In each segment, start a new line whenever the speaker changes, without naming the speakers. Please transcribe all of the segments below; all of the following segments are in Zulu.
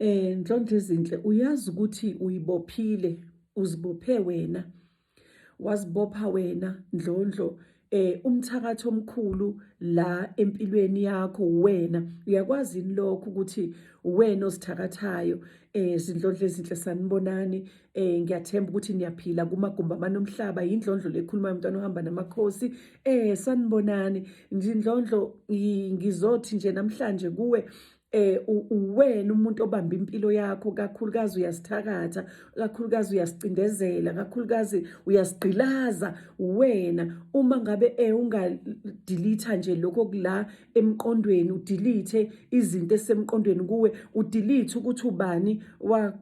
Eh Ndlondlo izinhle uyazi ukuthi uyibophile uzibophe wena wazibopha wena Ndlondlo eh umthakathi omkhulu la empilweni yakho wena uyakwazi yini lokho ukuthi wena osithakathayo eh zindlondlo ezinhle sanibonani eh ngiyathemba ukuthi niyaphila kumagumba manomhlaba indlondlo lekhuluma umntwana ohamba namakhosi eh sanibonani indlondlo ngizothi nje namhlanje kuwe eh uwena umuntu obamba impilo yakho kakhulukazi uyasithakatha kakhulukazi uyasicindezela kakhulukazi uyasigqilaza wena uma ngabe eh ungadelete nje lokho kula emqondweni udelete izinto esemqondweni kuwe udelete ukuthi ubani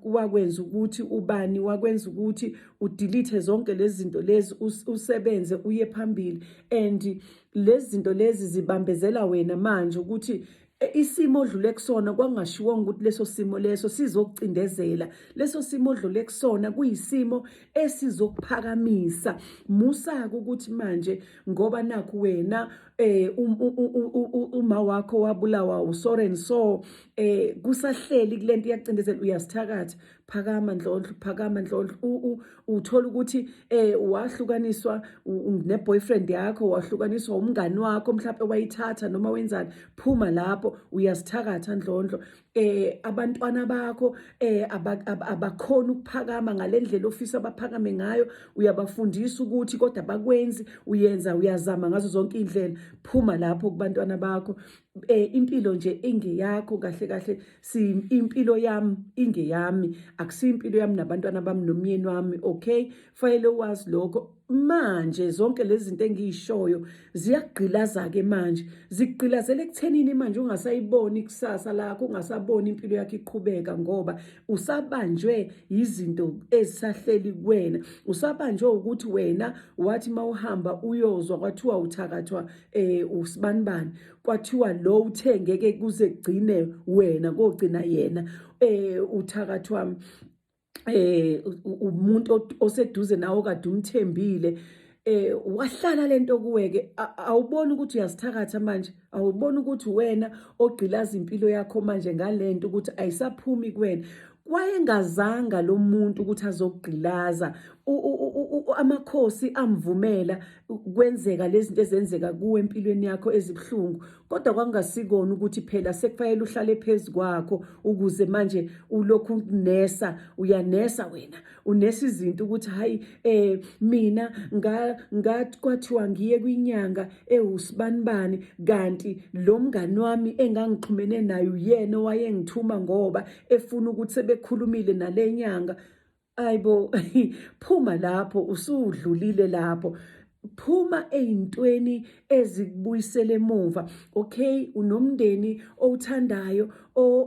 wakwenza ukuthi ubani wakwenza ukuthi udelete zonke lezi zinto lezi usebenze uye phambili and lezi zinto lezi zibambezela wena manje ukuthi E, isimo odlule kusona kwangashiwonga ukuthi leso simo leso sizokucindezela leso simo odlule kusona kuyisimo esizokuphakamisa musaka ukuthi manje ngoba nakho wena eh um, uma wakho wabulawa usoren so eh kusahleli kulento yacindezela uyasithakatha phakama ndlondlo phakama ndlondlo uthola ukuthi eh wahlukaniswa neboyfriend yakho wahlukaniswa umngani wakho mhlawumbe wayithatha noma wenzani phuma lapho uyasithakatha ndlondlo eh abantwana bakho eh abakhona ukuphakama ngalendlela ofisa abaphakame ngayo uyabafundisa ukuthi kodwa bakwenzi uyenza uyazama ngazo zonke indlela phuma lapho kubantwana bakho eh impilo nje ingeyakho kahle kahle si impilo yami ingeyami akusiyo impilo yami nabantwana bami nomyeni wami okay fanele wazi lokho manje zonke lezi zinto engiyishoyo ziyagqilaza ke manje zigqilazela ekuthenini manje ungasayiboni ikusasa lakho ungasaboni impilo yakho iqhubeka ngoba usabanjwe yizinto ezisahleli kuwena usabanjwe ukuthi wena wathi mawuhamba uyozwa kwathiwa uthakathwa eh usibanibani kwathiwa lo uthe ngeke kuze kugcine wena kogcina yena eh uthakathi wami eh umuntu oseduze nawo kade umthembile eh wahlala lento kuweke awuboni ukuthi uyasithakatha manje awuboni ukuthi wena ogqilaza impilo yakho manje ngalento ukuthi ayisaphumi kuwena wayengazanga lo muntu ukuthi azogqilaza amakhosi amvumela kwenzeka lezi zinto ezenzeka kuwe empilweni yakho ezibuhlungu kodwa kwakungasikona ukuthi phela sekufanele uhlale phezu kwakho ukuze manje ulokhu unesa uyanesa wena unesizinto ukuthi hayi eh mina nga ngathi kwathiwa ngiye kwinyanga ewusibanibani kanti lo mngani wami engangixhumene naye uyena owayengithuma ngoba efuna ukuthi sebekhulumile nalenyanga ayibo phuma lapho usudlulile lapho phuma ey'ntweni ezikubuyisela emuva okay unomndeni owuthandayo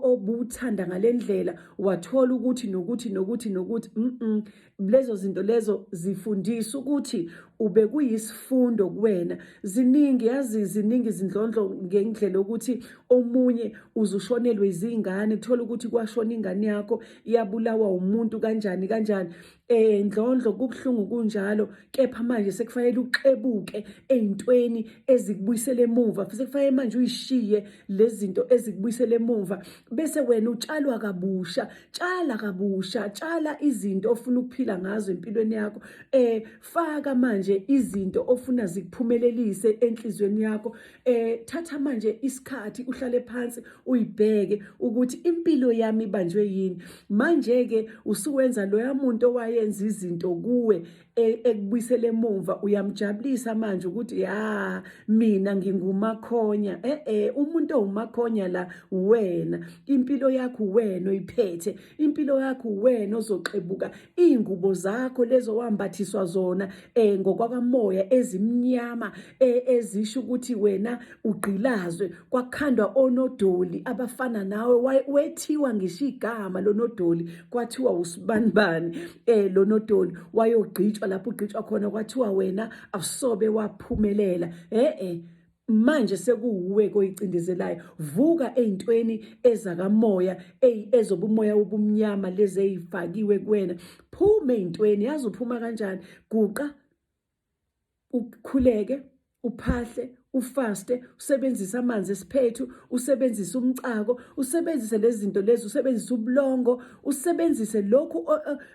obuthanda ngale ndlela wathola ukuthi nokuthi nokuthi nokuthi mm lezo zinto lezo zifundisa ukuthi ube kuyisifundo kuwena ziningi yazi ziningi izindlondlo ngendlela ukuthi omunye uzushonelwe izingane kuthola ukuthi kwashona ingane yakho yabulawa umuntu kanjani kanjani Eh ndlondlo kubuhlungu kunjalo kepha manje sekufanele uxebuke ezintweni ezikubuyisela emuva futhi kufanele manje uyishiye lezinto ezikubuyisela emuva bese wena utshalwa kabusha tshala kabusha tshala izinto ofuna ukuphila ngazo empilweni yakho eh faka manje izinto ofuna zikuphumelelise enhlizweni yakho eh thatha manje isikhathi uhlale phansi uyibheke ukuthi impilo yami ibanjwe yini manje ke usuwenza loya muntu owayenza izinto kuwe e, ekubuyisele emuva uyamjabulisa manje ukuthi ya mina ngingumakhonya eh eh umuntu owumakhonya la wena impilo yakho wena oyiphethe impilo yakho uwena ozoxebuka iy'ngubo zakho lezo wambathiswa zona um eh, ngokwakamoya ezimnyama eh, ezisho ukuthi wena ugqilazwe kwakhandwa onodoli abafana nawe wethiwa ngisho igama lonodoli kwathiwa usibanibani um eh, lonodoli wayogqitshwa lapho ugqitshwa khona kwathiwa wena awusobe waphumelela e-e manje sekuwuwe koyicindezelayo vuka ezintweni ezakamoya ezobumoya obumnyama lezi ezifakiwe kuwena phuma ezintweni yazi uphuma kanjani guqa ukhuleke uphahle ufaste usebenzise amanzi esiphethu usebenzise umcako usebenzise lezi zinto lezi usebenzise ubulongo usebenzise lokhu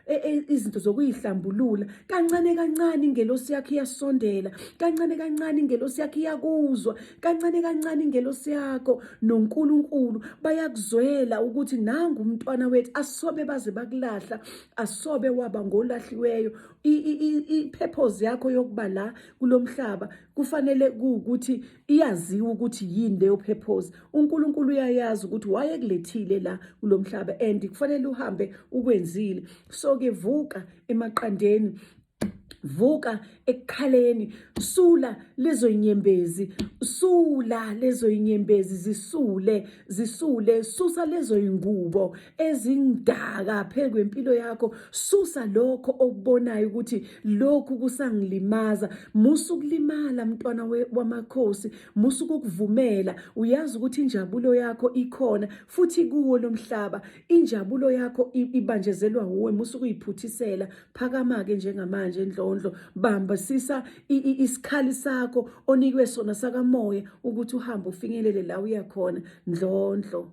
e, e, izinto zokuyihlambulula kancane kancane ingelosi yakhe iyasondela kancane kancane ingelosi yakhe iyakuzwa kancane kancane ingelosi yakho noNkulunkulu bayakuzwela ukuthi nangu umntwana wethu asobe baze bakulahla asobe waba ngolahliweyo iphephozi yakho yokuba la kulomhlaba kufanele ukuthi iyaziwa ukuthi yini leyo purpose uNkulunkulu uyayazi ukuthi wayekulethile la kulomhlaba and kufanele uhambe ukwenzile so ke vuka emaqandeni vuka ekukhaleni sula lezo inyembezi sula lezo inyembezi zisule zisule susa lezo ingubo ezingaka phezu kwempilo yakho susa lokho okubonayo ukuthi lokhu kusangilimaza musu kulimala mntwana wamakhosi musu kukuvumela uyazi ukuthi injabulo yakho ikhona futhi kuwo lomhlaba injabulo yakho ibanjezelwa uwe musu kuyiphuthisela phakama ke njengamanje endlondlo bamba sisa isikhali sakho onikwe sona sakamoya ukuthi uhambe ufinyelele la uyakhona ndlondlo